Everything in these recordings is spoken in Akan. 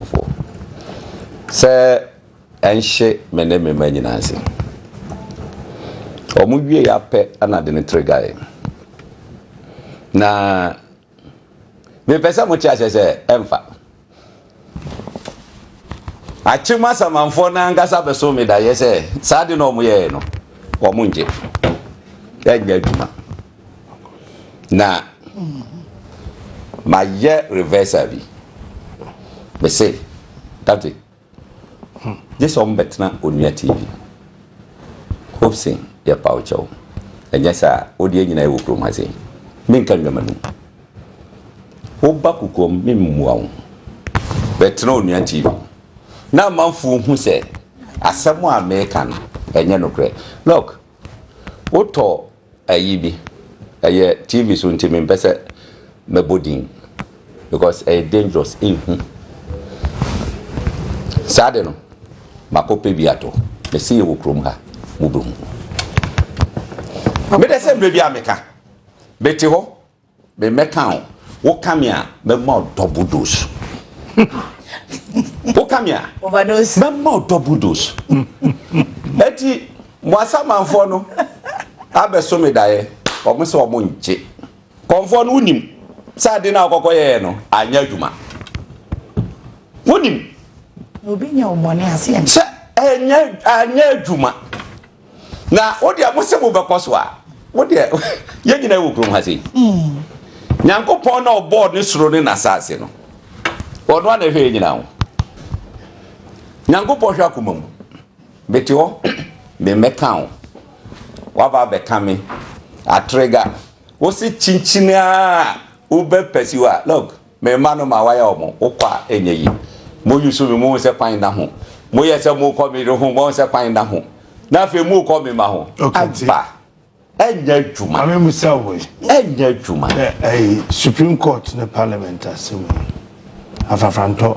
Ɔbɔfo, sɛ ɛnhye me ne me mma nyinaa ase. Wɔwiei ara pɛ na ɔde ne tiri gae. Na mepɛ sɛ mote aseɛ sɛ ɛmfa. Akyem asamanfoɔ no ankasa bɛso me daeɛ sɛ saa ade no a wɔyɛeɛ no, wɔngye. Ɛnyɛ adwuma. na mayɛ reversal bi mese dade gye sɛ ɔmo bɛtena onua tv hopsin yɛ paw kyɛw ɛnyɛ saa wode nyina ɛwɔ kurom ha sei menka nnwama num woba kukuom memmua wo bɛtena onua tv na amanfoɔ hu sɛ asɛm a meka no ɛnyɛ nokorɛ lɔk wotɔ Ayi bi ɛyɛ TV so nti mempɛ sɛ mɛbɔ din because ɛyɛ dangerous ɛnhu. Saa de no makɔ pɛ bi atɔ mɛsɛ yɛwɔ kurom ha mobɛhu. Medɛ sɛ mmerɛ biara meka mete hɔ Me mɛka o, wo ka me a, mɛ ma o double dose. Wo ka me a, mɛ ma o double dose. Eti, mo asamanfoɔ no abɛso me daeɛ, wɔn sɛ wɔn ngye. Kɔnfoɔ no, wonim sɛ ade no a wokɔkɔ yɛɛ no anyɛ adwuma? Wonim sɛ anyɛ adwuma? Na wo deɛ mo se mobɛkɔ so a wo deɛ yɛn nyinaa wɔ kurom ha sei nyankopɔn na ɔbɔɔ ne soro ne n'asase no ɔno a na ɛhwɛ yɛn nyinaa ho nyankopɔn hwɛ akoma mu mete hɔ memmɛka wo waba abɛka me atrega wo se kyinkyini a wobɛpɛsi hɔ a log Me mma no ma waya wɔn, wo kɔ a ɛnyɛ yie. Moyusu me, mohu sɛ kwan nna ho. Moyɛ sɛ morekɔ me yere ho, moahu sɛ kwan nna ho. Na afei morekɔ me mma ho. Aba, ɛnyɛ adwuma. Maame mbusa wo yi. Ɛnyɛ adwuma. Ɛɛ, ɛyi, Supreme Court ne Parliament asɛm yi, afrafrantɔ.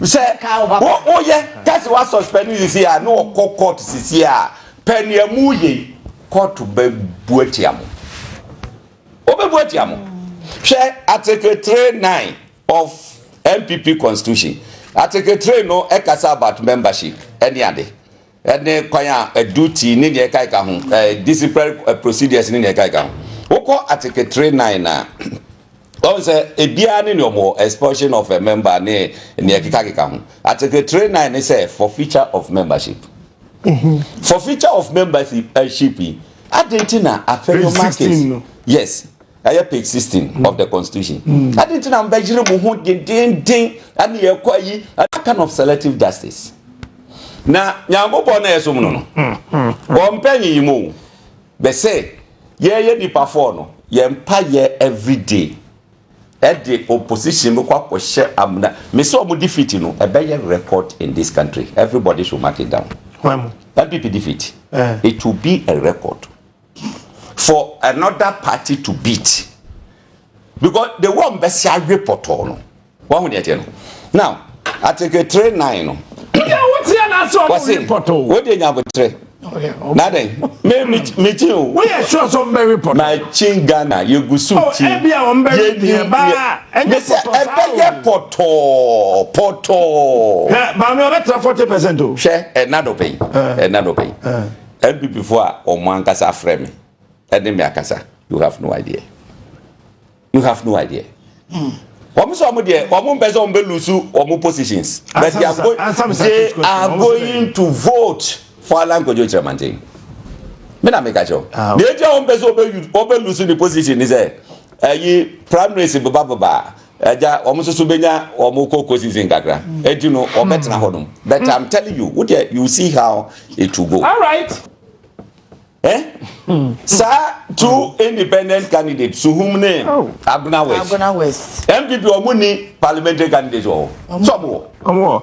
Sɛ wo yɛ kasi wa suspend no sisi a na ɔkɔ court sisi a pɛ nea mu yɛ yi court bɛ bu atia mo. Ɔbɛ bu atia mo. Hwɛ article three nine of NPP constitution. Article three no ɛkasa about membership ɛne ade. ne kwan a ɛdu tii ne nea ɛkae ka ho, disciplinary procedures ne nea ɛkae ka ho. Wokɔ Article 39 a, wɔn sɛ ebiara ne nea wɔn wɔ, expulsion of a member ne nea ɛkekakeka ho. Article 39 ne sɛ forfeiture of membership. Mhm. Forfeiture of membership yi, adɛn nti na apɛ no market? Yes. Ɛyɛ page sixteen mm. of the constitution. Mm. Adi nti na mbɛyere mo ho dendenden ɛna yɛ kɔ ayi that kind of selective justice. Na nyankopɔn na ɛsom no no. Mm, mm, Wɔn mpɛ nyiyim o. Bɛsɛ yɛyɛ nipa fɔɔ no yɛn mpa yɛ everyday ɛde opposition no kɔ akɔhyɛ amuna mesɛ ɔmo defeat no ɛbɛyɛ record in this country everybody should mark it down npp defeat eh. it will be a record for another party to beat because the one bɛsi awe pɔtɔɔ no wɔn ho deɛ teɛ no now article three nine no wɔsi o de nya abotire naden me mi mi kyin o ma kyin ghana yɛ gu so kyin yɛ ni yɛ mɛ sɛ ɛbɛ yɛ pɔtɔɔ pɔtɔɔ. maame ɔbɛ tẹ forty percent o. hwɛ ɛna dɔ pɛn ɛna dɔ pɛn. NPP fo a wɔn ankasa afrɛ me ɛne me akasa you have no idea you have no idea. Mm. wɔn sɛ wɔn deɛ wɔn mpɛ sɛ wɔn bɛ lose wɔn positions but they are, go they are going to vote for Alan Kojo Kyerɛmanten mi na mi ka kyerɛw ah, deɛ eti a wɔn mpɛ sɛ wɔn bɛ lose ne position ni sɛ ɛyi primaries beba beba. Agya, wɔn nso so benya wɔn cocoa season kakra. Eti no, wɔbɛtena hmm. hɔ nom. But hmm. I'm telling you, wo deɛ you see how it will go. All right. Eh? Hmm. Saa two independent candidates, Suhum ne oh. Aguna West. Aguna West. MPP wɔn ni parliamentary candidates wɔ hɔ. Sɔmu wɔ. Wɔn wɔ.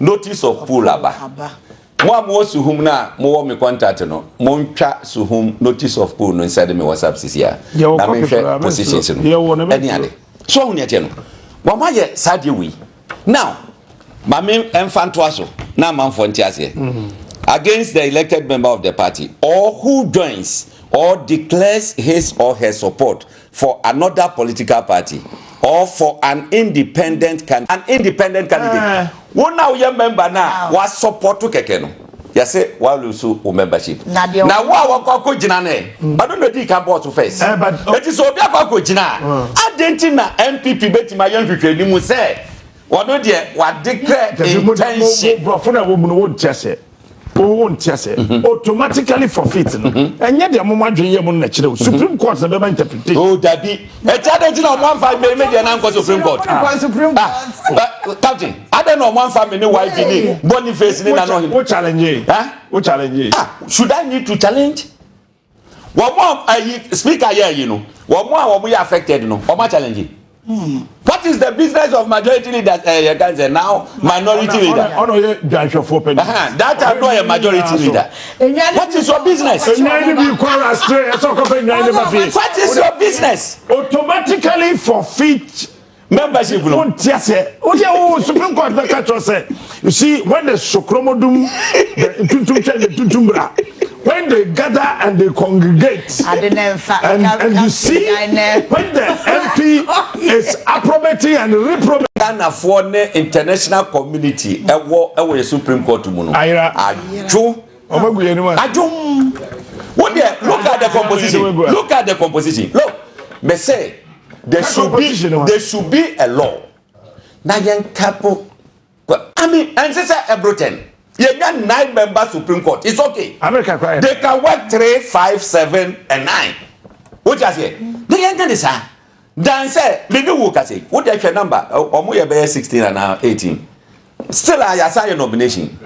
Notice of pool aba. Mo a mowɔ Suhum na mowɔ me contact no, montwa Suhum notice of pool no nsɛde me WhatsApp sisi a na menhwɛ positions no ɛne ade. So ɔho nea ɛteɛ no? Wɔama yɛ saa deɛ wei. Now, ma me ɛmfa ntoa so na amanfoɔ nte aseɛ. Against the elected member of the party or who joins or declares his or her support for another political party or for an independent candidate. An independent candidate, Wo na wo yɛ member no a wa support kɛkɛ no, yɛ se wa lose wo membership. Na wo a wa kɔ akɔ gyina no ɛ? Ɔno na ɔdii kan bɔɔ so first. Enti sɛ obi akɔ akɔ gyina a, adɛn nti na NPP bɛtumi ayɛ nhwehwɛnimu sɛ ɔno deɛ wa declare intention? Nti mo, mo, mo, borɔfo na wɔ mu no, wo nte aseɛ. O wo nte aseɛ mm-hmm. automatically forfeit no mm-hmm. ɛnyɛ deɛ mo mo adwene yɛ mo no na kyerɛ o mm-hmm. supreme court na bɛma interpretation. o oh, dabi ɛti adé nti na ɔmo anfa mi mi deɛ na nkɔ supreme court ah, ah, ah captain adé na ɔmo anfa mi ni yv ni boniface ni nanu ɔhin. o challenge yi o challenge yi. ah should i need to challenge. Wɔn a ayi speaker yɛ ayi no, wɔn a wɔn yɛ affected no, wɔn a challenge. What is the business of majority leaders? Eh, yɛ kan sɛ now minority leader. Ɔno yɛ dwanhwɛfoɔ pɛ. That time no yɛ majority leader. What is your business? Enyan ni bi kɔ rastre ɛsɛ ɔkɔ fɛ enyan ni ba fi. What is your business? Automatically forfeit Membership no. Won't hear say. Oh yeah, oh Supreme Court na catch us say. You see, when the sokromodum, the tuntum chen, the tuntum bra, when they gather and they congregate, and, and you see, when the MP is approbating and reprobating. Ghanafoɔ ne international community ɛwɔ ɛwɔ yɛ Supreme Court mu no. Ayira. Adwo. Adwom. Wo deɛ look at the composition look at the composition look me say there should be there should be a law na yɛn kapo. I mean ɛnse sɛ ɛbro ten yɛn nya nine member supreme court it's okay. America kura yɛ. They can work three five seven and nine. Wotia seɛ na yɛn nya ne saa. Dan sɛ me ne wo kasa yi, wo deɛ hwɛ number, wɔn yɛ bɛyɛ sixteen anaa eighteen. Still a yasa yɛ nomination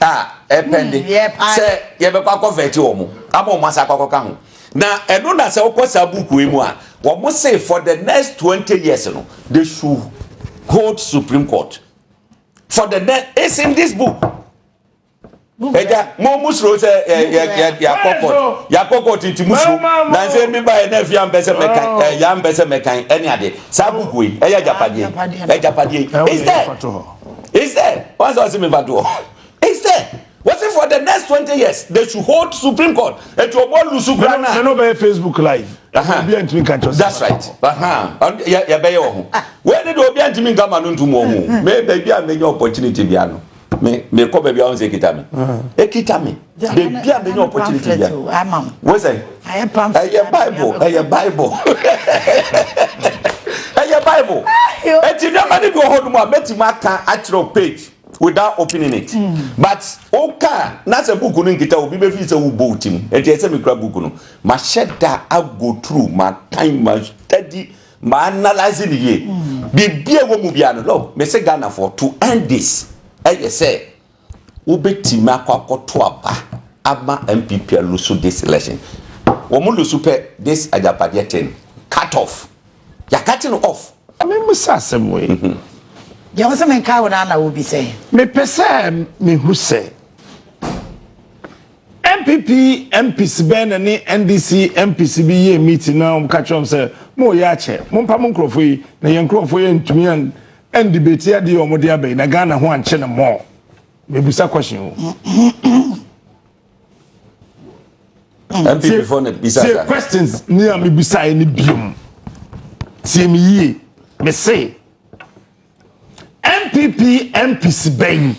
a ɛpɛnde hmm, sɛ yɛbɛkɔ akɔ vɛti wɔn ama wɔn asa akɔ akɔka ho. Na ɛno na sɛ wokɔ saa buku yi mu a, wɔn se for the next twenty years no, they should hold Supreme Court for the next. It's in this book. ɛgya mo mu soro sɛ ɛ yɛ yɛ yakɔ kɔt yakɔ kɔt nti mu soro nansi ebi ba yɛ n'afi ampɛ sɛ mɛkan ɛ yɛ ampɛ sɛ mɛkan ɛni ade saa buku yi ɛyɛ agyapadeɛ agyapadeɛ instead instead wɔn sɛ ɔsi mi ba doɔ instead wɔsi for the next twenty years they should hold supreme court etu ɔbɔ lusu kura na. ɛnna ɔbɛyɛ facebook live. obi a ntumi nka nkyɛn. that's right yɛ bɛyɛ wɔ ho wei ni de obi a ntumi nka ma no ntum wɔ ho mɛ baabi a mɛ nya opportunity bi ano. me me kɔ baabi a wɔn sɛ ekita mi ekita mi beebi a mi nye opportunity bia wosɛ ɛyɛ bible ɛyɛ bible ɛyɛ bible eti nneɛma ne bi wɔ hɔ nom a mɛtumi aka akyerɛw page without opening it hmm. but woka na sɛ book no nkita obi bɛfi sɛ wobɔ wo tim ɛnti ɛsɛ mekura book no mahyɛ da ago through makan ma study Ma analyse no yie. Biribi a ɛwɔ mu biara no, look, mese Ghanafoɔ, to end this, ɛyɛ sɛ wobɛtumi akɔ akɔto aba ama NPP alusu this election. Wɔn lusu pɛ this agyapadeɛ thing, cut off. They are cutting off. Memmisa asɛm wei. Mhm. Deɛ wo sɛ menkae wo no ara na wobisa yi. Mepɛ sɛ mehu sɛ. NPP MPs bɛn na ne NDC MPs bi yɛɛ meeting na wɔka kyerɛɛ wɔn sɛ mo yɛ akyɛ, mo mpa mo nkorɔfoɔ yi na yɛn nkorɔfoɔ yɛ ntumi an an debate adeɛ yɛ wɔn de aba yi na Ghana ho ankye no more. Me busa question o. NPP fo na bisa sa. questions ni a me busa yɛ ne biom. Tie me yie, me se. NPP MPs bɛyi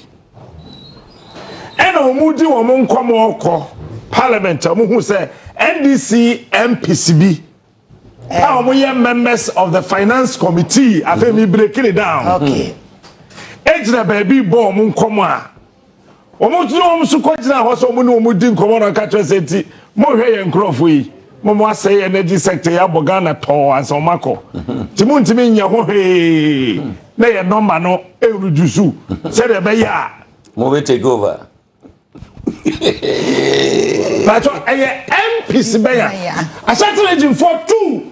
ɛna wɔn di wɔn nkɔmɔ kɔ parliament a wɔn hu sɛ NDC MPs bi a wɔn yɛ members of the finance committee afei mi break it down. Okay. egyina baabi bɔ wɔn nkɔmɔ a. Wɔgyina wɔn so kɔgyina hɔ sɛ wɔne wɔn di nkɔmmɔ na wɔka kyerɛ sɛ nti monhwɛ yɛn nkurɔfoɔ yi ma wɔn asɛe energy sector yi abɔ Ghana tɔɔ ansa wɔn akɔ nti montumi nyɛ ho hwee na yɛn nɔmba no ɛredusu sɛdeɛ ɛbɛyɛ a mobɛ take over Pacho, ɛyɛ MPs bɛyɛ. Ashanti region for two.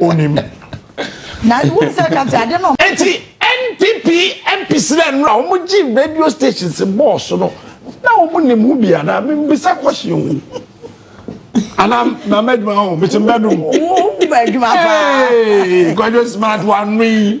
onim na won sɛ ka sɛ ade no enti npp mps na nnora wɔn gye radio stations bɔɔso no na wɔn nim ho bi anaa mbisa kɔhye ho anaa na mɛdwuma ho mete mbɛdum mɛdwuma paa kwadwo smart wano yi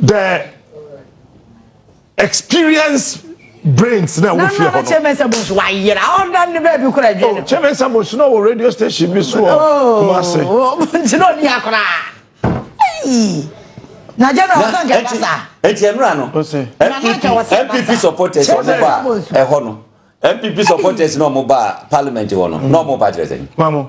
the experience brains na ɛwɔ fie hɔ no. nana kyemesa bosu wayera ɔda ne baabi kura adwene oh, no. kyemesa bosu na wɔ radio station bi so wɔ oh, kumase. nti na ɔni akora na general ɔsɛ nkɛ kasa. eti emira no npp supporters ɔmo ba ɛhɔ no npp supporters na ɔmo ba parliament hɔ no na ɔmo ba kyerɛ sɛ.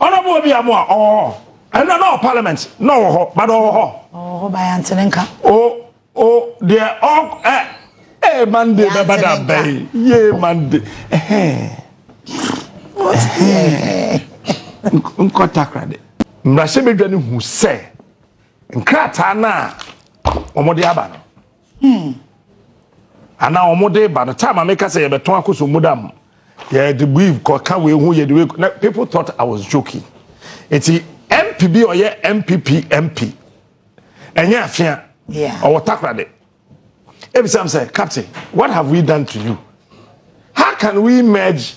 Honourable Obi Amoah ɔwɔ hɔ ɛnna na ɔwɔ parliament na ɔwɔ hɔ bada ɔwɔ hɔ. Ɔwɔ hɔ ba yante ne nka. O o deɛ ɔ ɛ ee Monday bɛ bada bɛyi yee Monday ɛhɛn ɛhɛn nkɔ takoradi. Mmarahyɛbadwa no hu sɛ nkrataa no a wɔde aba no. Hmm. Ana wɔn de ba no time a meka sɛ yɛbɛtɔn akoso mu dam yɛde weave kɔka wei ho yɛde wei na people thought I was joking eti MP bi ɔyɛ MPP MP ɛnyɛ afia ɔwɔ takoradi ebisam sɛ captain what have we done to you how can we merge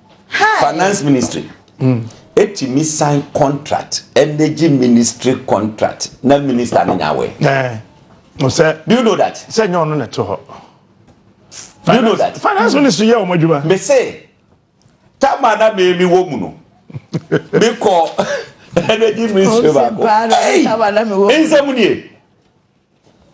Finance ministry ɛtumi sign contract, energy ministry contract na minister no nya awɛ. Sɛ, do you know that? Sɛ nyɛ ɔno na ɛto hɔ. Do you know that? Finance ministry yɛ ɔmo adwuma. Me se, tama na me mi wɔ mu no, me kɔ energy ministry baako. Ɛyi, nsɛm nie.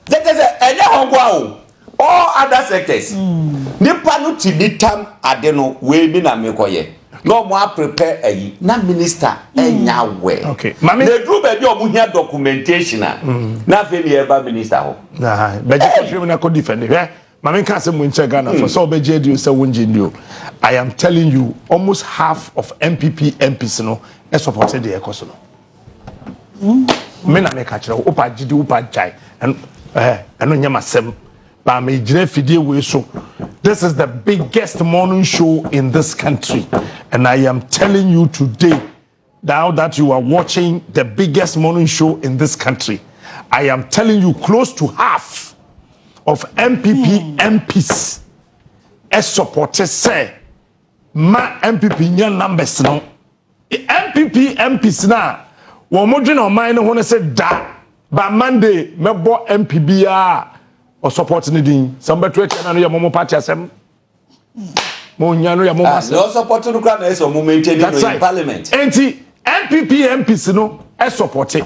Sɛ kyerɛ sɛ, ɛnyɛ hɔ nko ara o, all other sectors, nipa no tumi tam ade no, wei me na mekɔyɛ, na wɔn aprepɛ ayi, na minister nya awɛ, na ɛduru baabi a wɔhia documentation a, na afei na yɛba minister hɔ. Bɛgye kɔhwɛ mu na kɔ defend hwɛ. Ma menka asɛm mu nkyerɛ Ghana fo sɛ wobɛgye adi o sɛ wongye ndi o, I am telling you, almost half of NPP MPs no support deɛ ɛkɔ so no. me na meka kyerɛ wo wopɛ agyedi wopɛ agyae ɛno nyɛ masɛm baa megyina afidie wei so this is the biggest morning show in this country and i am telling you today now that you are watching the biggest morning show in this country i am telling you close to half of mpp mps ɛsupporte sɛ ma mpp nya numbers no NPP MPs no a wɔdwene ɔman no ho no se da ba Monday mɛbɔ MP biara a ɔsɔpɔt no din sɛ mobɛto atia no ano yɛ mo mo party asɛm mo nya no yɛ mo mo ah, asɛm. Na ɔsɔpɔt no kora na ɛsɛ ɔmo maintain no in parliament. Enti NPP MPs no ɛsɔpɔte.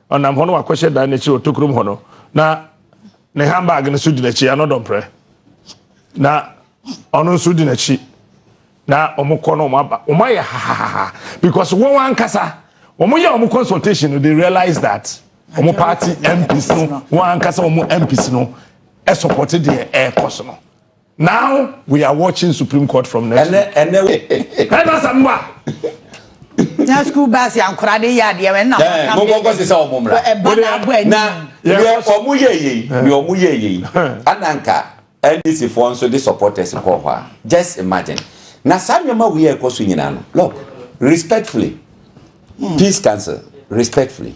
Ɔnam hɔ na wakɔhyɛ dan no akyiri wɔ tokurom hɔ no, na ne handbag no nso di n'akyi, ano dɔmprɛ. Na ɔno nso di n'akyi. Na wɔn kɔ na wɔn aba. Wɔn ayɛ hahahaha because wɔn ankasa wɔn yɛ wɔn consultation no they realize that wɔn party MPs no wɔn ankasa wɔn MPs no ɛsupɔte deɛ ɛrekɔ so no. Now we are watching supreme court from next week. Ɛnɛ ɛnɛ. Ɛna asɛm ba. Na school bus yɛ ankora de yɛ adeɛ wɛ na wɔn eh, kam de. Mo kɔkɔ sisa wɔn mura. Ɛba na abɔ ɛni. Na yɛ wɔn yɛ yɛ yi yɛ wɔn yɛ yɛ yi ananka NDC foɔ nso de supporters kɔ hɔ a just imagine na saa nneɛma wei a ɛkɔ so nyinaa no look respectfully hmm. peace council respectfully.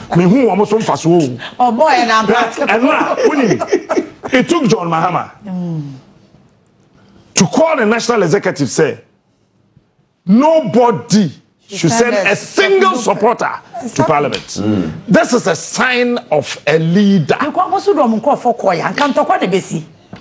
Mehu wɔn so mfasoɔ o. Ɔbɔ yɛ na mpa. Ɛno a wonim it took John Mahama to call the national executive sɛ nobody should send a single supporter to parliament. Mm. This is a sign of a leader. Nkɔnkɔ so dɔm nkɔfɔ kɔ ya nkantɔkwa na besi.